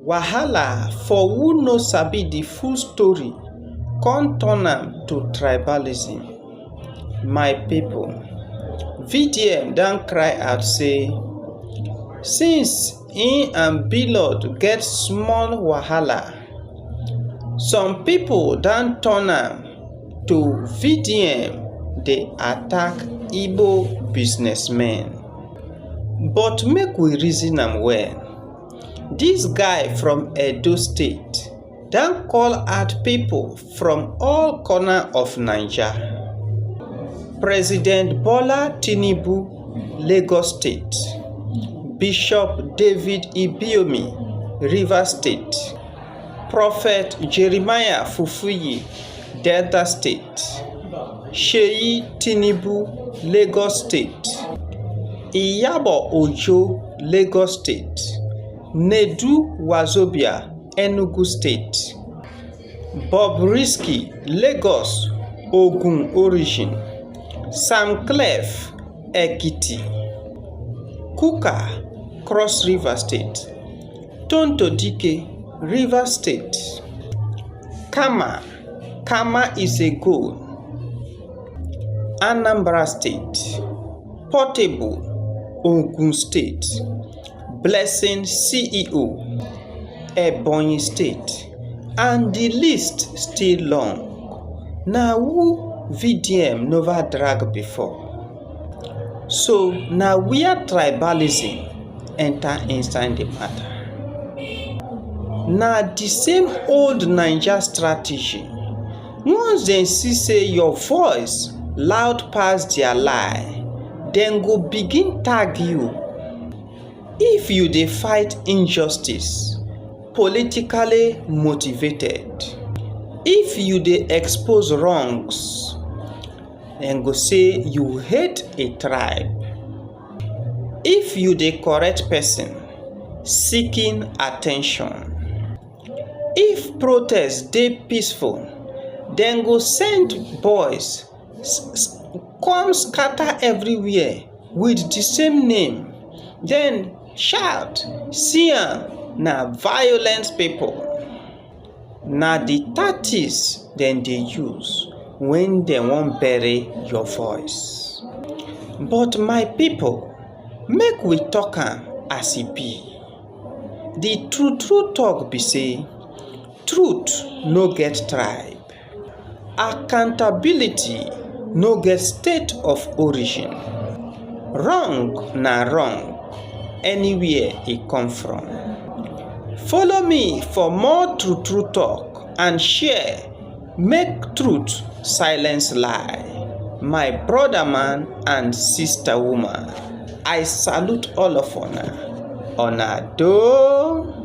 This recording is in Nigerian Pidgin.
wahala for who no sabi the full story con turn am to tribalism my people vdm don cry out say since he and blord get small wahala some people don turn am to vdm dey attack igbo businessmen but make we reason am well this guy from edo state don call out people from all corner of naija — president bola tinubu lagos state bishop david ibiyeomie rivers state prophet jeremiah fufeyin Delta State, Seyi Tinubu, Lagos State, Iyabo Ojo, Lagos State, Nedu Wazobia, Enugu State, Bobrisky, Lagos, Ogun origin, Sam Clef, Ekiti, Kukah, Cross River State. Tonto dike, Rivers state, Khama, Khama is a goal, Anambra state, Portable, Ogun state, Blessing CEO, Ebonyi state and di list still long. Na who VDM nova drag before? so na wia tribalism enta inside di mata na di same old naija strategy once dem see say your voice loud pass dia lie dem go begin tag you if you dey fight injustice politically motivated if you dey expose wrongs. dem go say you hate a tribe. If you dey correct person seeking attention. If protest dey peaceful, dem go send boys come scatter everywhere with the same name then shout see am na violent people. na the tactics dem dey use when dem wan bury your voice but my people make we talk am as e be the true true talk be say truth no get tribe Accountability no get state of origin, wrong na wrong anywhere e come from. Follow me for more true true talk and share make truth silence lie. My brother man and sister woman I salute all of una, una doh!